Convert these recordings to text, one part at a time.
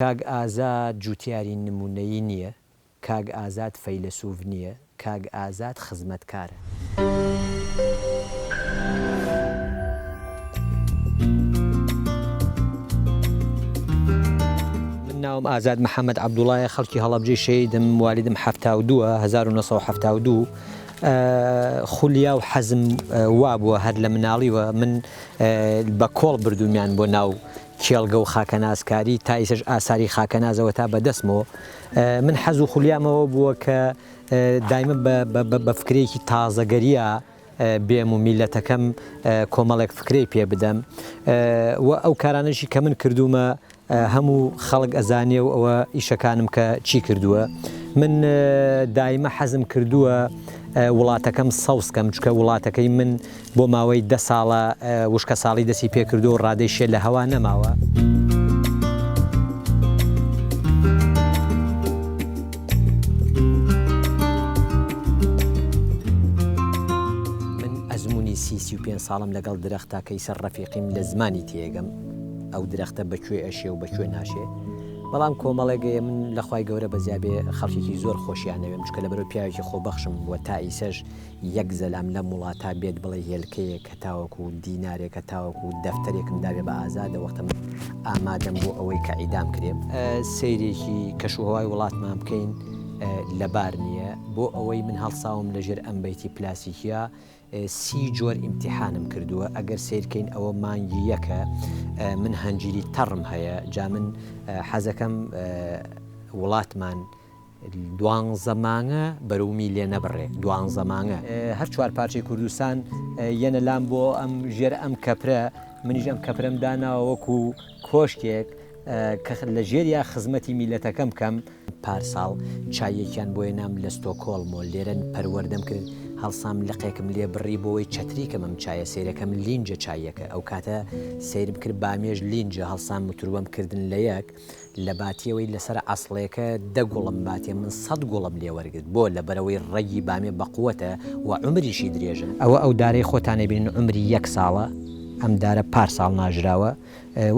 کاک ئازاد جوتیاری نمونەیی نیە، کاک ئازاد فەیلەسوف نیە، کاک ئازاد خزمەتکارە. من ناوم ئازاد محمد عبدوڵایە خەڵکی هەڵەبجەی شەهیدم والیدم حەفتا و دوو هەزار و نۆ سەد و حەفتا و دوو خولیا و حەزم وابووە هەر لە مناڵیوە من بە کۆڵ بردومیان بۆ ناو کێڵگە و خاکەناسکاری تا ئیسەش ئاساری خاکەنازەوە تا بە دەسمۆ من حەز و خولیام ئەوە بووە کە دایمە بە فکرێکی تازەگەریا بێم و میلەتەکەم کۆمەڵێک فکرەی پێ بدەم و ئەو کارانەشی کە من کردوومە هەموو خەڵک ئەزانێ و ئەوە ئیشەکانم کە چی کردووە من دایمە حەزم کردووە وڵاتەکەم سەوزکەم چکە وڵاتەکەی من بۆ ماوەی دە ساڵە وشکەساڵی دەستی پێکردووە و ڕادەی شێ لە هەوا نەماوە. من ئەزموونی سی سی و پێنج ساڵەم لەگەڵ درەختە کەیسەر ڕەفیقیم لە زمانی تێگەم ئەو درەختە بە کوێ ئەشێ و بە کوێ ناشێ بەڵام کۆمەڵێک ئێ من لە خوای گەورە بەزیابێ خەڵکێکی زۆر خۆشیانەوێم چکە لە بەرەو پیاوێکی خۆبەخشم بووە تا ئیسەش یەک زەلام لەم وڵاتە بێت بڵێ هێلکەیەک هەتاوەکو دینارێک هەتاوەکو دەفتەرێکم داوێ بە ئازادە وەختە من ئامادەم بۆ ئەوەی کە عیدام کرێم. سەیرێکی کەش و هەوای وڵاتمان بکەین لەبار نیە بۆ ئەوەی من هەڵساوم لە ژێر ئەم بەیتی پلاسیکیە سی جۆر ئیمتیحانم کردوە ئەگەر سەیر کەین ئەوە مانگی یەکە من هەنجیری تەڕم هەیە جا من حەزەکەم وڵاتمان دوانزە مانگە بەرومی لێ نەبڕێ دوانزە مانگە. هەر چوار پارچەی کوردستان یەنە لام بۆ ئەم ژێر ئەم کەپرە منیش ئەم کەپرەم داناوە وەکو کۆشکێک کە لە ژێریا خزمەتی میلەتەکەم کەم. پارساڵ چاییەکیان بۆ ێنام لە ستۆکۆڵم و لێرەن پەروەردەم کرد هەڵسام لقێکم لێ بڕی بۆوەی چەتری کەم ئەم چایە سەیرەکەم لینجە چاییەکە ئەوکاتە سەیرم کرد بامێش لینجە هەڵسام متروەم کردن لە یەک لە باتیەوەی لەسەر عەسڵێکە دە گوڵم باتێ من سەد گوڵم لێ وەرگرت بۆ؟ لەبەرئەوەی ڕەگی بامێ بەقوەتە و عومریشی درێژە. ئەوە ئەو دارەی خۆتان ئەبینن عومری یەک ساڵە، ئەم دارە پار ساڵ ناژراوە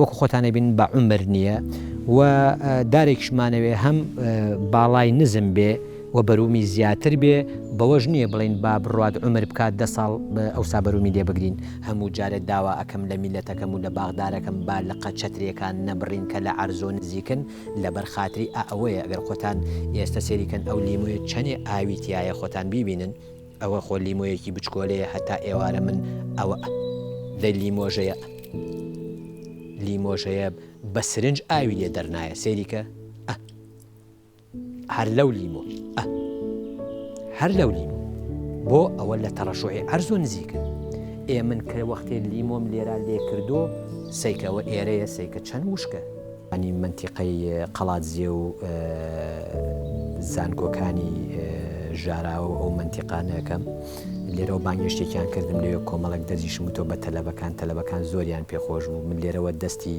وەکو خۆتان ئەبینن بە عومر نیە و دارێکیشمانەوێ هەم باڵای نزم بێ و بەرومی زیاتر بێ بەوەش نیە بڵێین با بڕوات عومر بکات دە ساڵ ئەوسا بەرومی لێ بگرین هەموو جارێ داوا ئەکەم لە میلەتەکەم و لە باخدارەکەم با لقە چەتریەکان نەبڕین کە لە عەرزۆ نزیکن لەبەر خاتری ئا ئەوەیە گەر خۆتان ئێستە سێری کەن ئەو لیمۆیە چەنێ ئاوی تیایە خۆتان بیبینن ئەوە خۆ لیمۆیەکی بچکۆلەیە هەتا ئێوارە من ئەوە دەی لیمۆژەیە لیمۆژەیە بە سرنج ئاوی لێ دەرنایە سێری کە ئە. هەر لەو لیمۆ ئە. هەر لەو لیمۆ بۆ ئەوە لە تەڕەشوعی عەرزۆ نزیکە ئێ من کە وەختێ لیمۆم لێرا لێ کردو سەیکەوە ئێرەیە سەیکە چەند وشکە. انی مەنتیقەی قەڵادزێ و زانکۆکانی ژاراوە و ئەو مەنتیقانە ئەکەم لێرەوە بانگێشتێکیان کردم لەوێ کۆمەڵێک دەرزیشم وتۆ بە تەلەبەکان تەلەبەکان زۆریان پێخۆش بوو من لێرەوە دەستی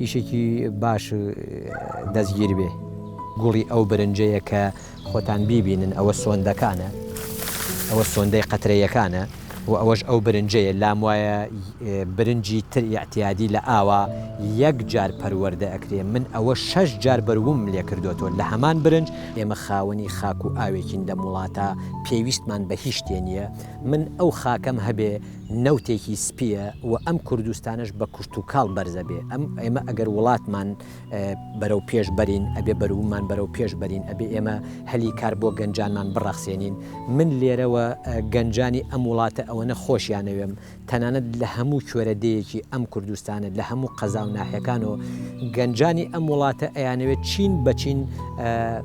ئیشێکی باش دەستگیر بێ گوڵی ئەو برنجەیە کە خۆتان بیبینن ئەوە سۆندەکانە ئەوە سۆندەی قەترەیەکانە و ئەوەش ئەو برنجەیە لام وایە برنجی تر یاعتیادی لە ئاوا یەک جار پەروەەردە ئەکرێ من ئەوە شەش جار بەروم لێ کردوەوە لە هەمان برنج ئێمە خاوەنی خاک و ئاوێکین لەم وڵاتە پێویستمان بە هیچ شتێ نییە من ئەو خاکەم هەبێ نەوتێکی سپیە و ئەم کوردستانەش بە کوشتوکاڵ بەرزەبێ ئەم ئێمە ئەگەر وڵاتمان بەرەو پێش بەرین ئەبێ بەرومان بەرەو پێش بەرین ئەبێ ئێمە هەلی کار بۆ گەنجانمان بڕەخسێنین من لێرەوە گەنجانی ئەم وڵاتە ئەوەنە خۆشیانەوێم تەنانەت لە هەموو کوێرە دەیەکی ئەم کوردستانە لە هەموو قەزا و ناحەکان و گەنجانی ئەم وڵاتە ئەیانەوێت چین بەچین